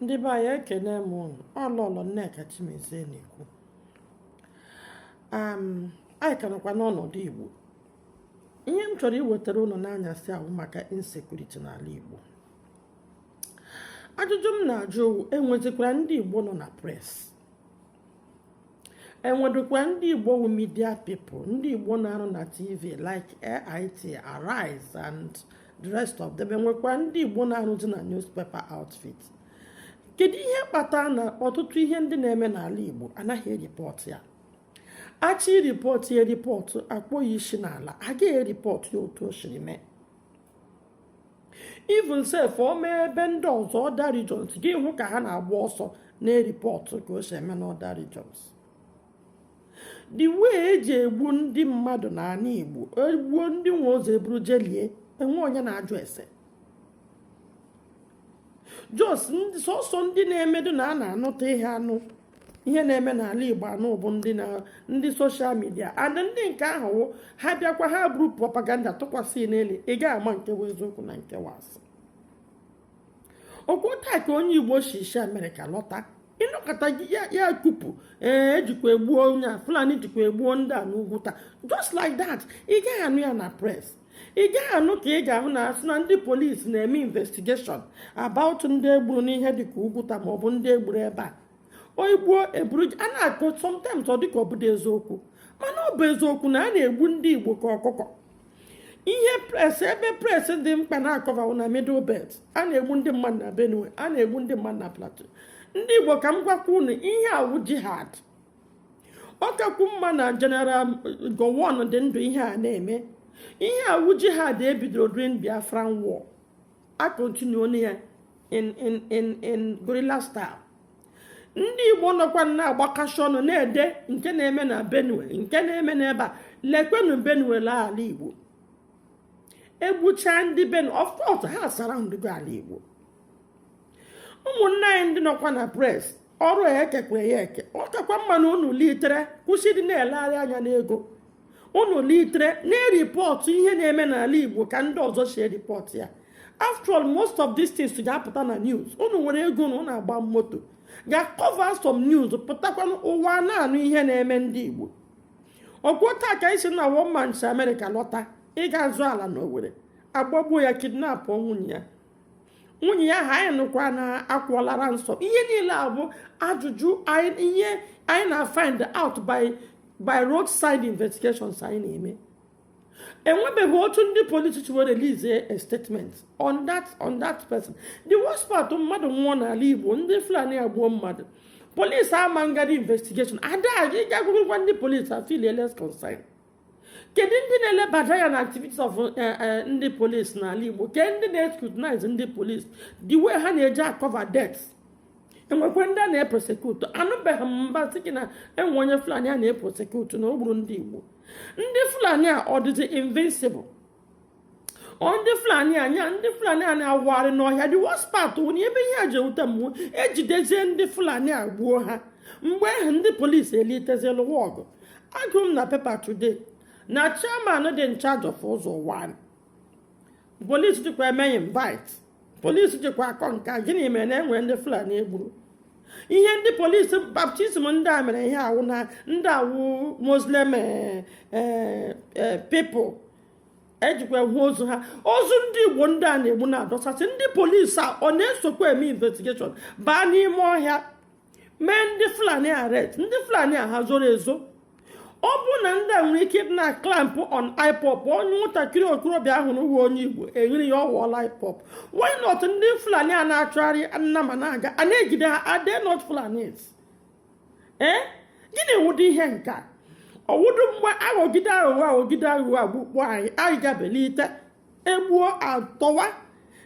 ndị be anyị ekene m ụnụ ọ lọlọ nneka chimezie na-ekwu anyị ka nọkwa n'ọnọdụ igbo ihe m chọrọ iwetara ụnụ n'anyasị a wụ maka insecurity n'ala igbo ajụjụ m na-ajụ wụ enwezikwara ndị igbo nọ na press enwedụkwa ndị igbo wụ media people ndị igbo na-arụ na tv like AIT Arise and the rest of them enwekwa ndị igbo na-arụzi na newspaper outfit kedu ihe kpatara na ọtụtụ ihe ndị na-eme n'ala igbo anaghị eripọt ya achọ iripọt ya ripọt akpọ ya isi n'ala agaghị eripọt ya otu o siri mee even sef o mee ebe ndị ọzọ other regions gị ahụ ka ha na-agba ọsọ na-eripọtụ ka o si eme n'other regions the way eji egbu ndị mmadụ n'ala Igbo egbuo ndị nwe ozu eburu jelie enwe onye na-ajụ ese just sọsọ ndị na-emedụ na a na-anụta ihe anụ ihe na-eme n'ala igbo anụ bụ ndị ndị social media and ndị nke ahụ wụ ha bịakwa ha buru propaganda tụkwasị n'elu ị gaghị ama nke bụ eziokwu na nke wụ asị ọkwa taa ka onye igbo si si amerịka lọta ị nọkata ya kupu ee ejikwa egbuo onye a fulani jikwa egbuo ndị a n'ugwuta just like that ị gaghị anụ ya na press ị gaghị anụ ka ị ga-ahụ na asị na ndị polisi na-eme investigation about ndị egburu n'ihe dịka ugwuta maọbụ ndị egburu ebe a o egbuo eburu a na-akọ sometimes ọ dịka ọ bụdị eziokwu mana ọ bụ eziokwu na a na-egbu ndị igbo ka ọkụkọ ihe press ebe press dị mkpa na-akọva wụ na middle belt a na-egbu ndị mmadụ na benue a na-egbu ndị mmadụ na plateau ndị igbo ka m gwakwa unu ihe a wụ jihad ọ kakwu mma na general gowon dị ndụ ihe a na-eme ihe a wụ jihad ebidoro during biafran war a continue on ya in in in in guerrilla style ndị igbo nọkwa na-agbakasị ọnụ na-ede nke na-eme na benue nke na-eme n'ebe a lekwenu benue lee ala igbo egbuchaa ndị benue of course ha surroundụgo ala igbo ụmụnna anyị ndị nọkwa na press ọrụ ya ekekwa ya eke ọ kakwa mma na unu litere kwụsị ịdị na-elegharị anya n'ego unu litere na-eripọtụ ihe na-eme n'ala igbo ka ndị ọzọ si eripọtụ ya after all most of these things ga-apụta na news unu nwere ego na unu agba moto ga cover some news pụtakwanụ ụwa na-anụ ihe na-eme ndị igbo ọkwa taa ka asị na one man si amerịka lọta ịga azụ ala n'owere agbagbuo ya kidnap nwunye ya nwunye ya ha anyị nụkwa na akwụọla ransom ihe niile a bụ ajụjụ ihe anyị na-afind out by by roadside investigations anyị na-eme enwebeghị otu ndị polisi were release a statement on that on that person the worst part mmadụ nwụọ n'ala igbo ndị fulani agbuo mmadụ polisi ama ngadi investigation ada ịga agụgụkwa ndị polisi afilie less concern kedu ndị na-elebada anya na activities of eh, eh, ndị polisi n'ala Igbo kedu ndị na-escrutinize ndị polisi the way ha na-eji akọva death e nwekwara ndị a na-eprosekutu anụbeghị m mgbe a sị gị na enwe onye Fulani a na-eprosekutu na o gburu ndị Igbo ndị Fulani a ọ dịzi invincible ọ ndị fulani anya ndị fulani a na-awagharị n'ọhịa the worst part wụ na ebe ihe a ji ewute m ejidezie ndị fulani a gbuo ha mgbe ahụ ndị polisi elitezie lụwa ọgụ agụrụ m na pepa today na chairman dị in charge of ụzọ ụwanị polisi jikwa eme invite polisi jikwa akọ nka gịnị mere na enwere ndị fulani egburu ihe ndị polisi baptiziri ndị a mere ihe a wụ na ndị a wụ muslim eh, eh, eh, pipụl e jikwa ahụ ozu ha ozu ndị igbo ndị a na-egbu na-adọsasị ndị polisi a ọ na-esokwa eme investigeshọn baa n'ime ọhịa mee ndị fulani arrest ndị fulani a ha zoro ezo ọ bụrụ na ndị a nwere ike na-aklampụ on ipop onye nwatakịrị okorobịa a hụrụ wụ onye igbo e were ya ọ wụọla ipop why not ndị fulani a na-achụgharị nnama na-aga a na-ejide ha are they not fulanis ee gịnị wụdị ihe nke a ọwụdụ mgbe aghọgide aghụghọ aghọgide aghụghọ agbukpọ anyị anyị ga-ebilite egbuo atọwa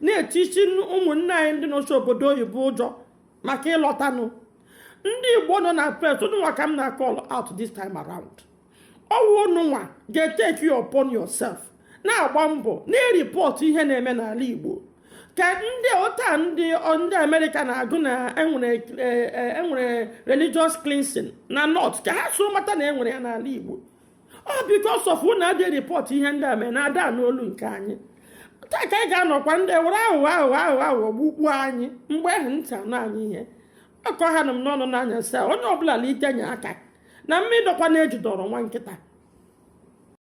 na-etichi ụmụnne anyị ndị nọchi obodo oyibo ụjọ maka ịlọtanụ ndị igbo nọ na press ununwa ka m na-akọl out this time around ọ wụ ununwa ga-eteki it upon yourself na-agba mbọ na-eripọtụ ihe na-eme n'ala igbo ka ndị otu a ndị ndị amerịka na-agụ na enwere e, e, e, religious cleansing na north ka ha so mata na enwere ya n'ala igbo ọ because of unu adị rịpọt ihe ndị a mee na ada anụ olu nke anyị otu a ka anyị ga-anọkwa ndị were aghụghọ aghụghọ aghụghọ aghụghọ gbukpuo anyị mgbe ahụ ntị anụ anyị ihe ọkọ ha na m n'ọnụ n'anya saa onye ọbụla na-etinye aka na mmiri dọkwa na-ejidọrọ nwa nkịta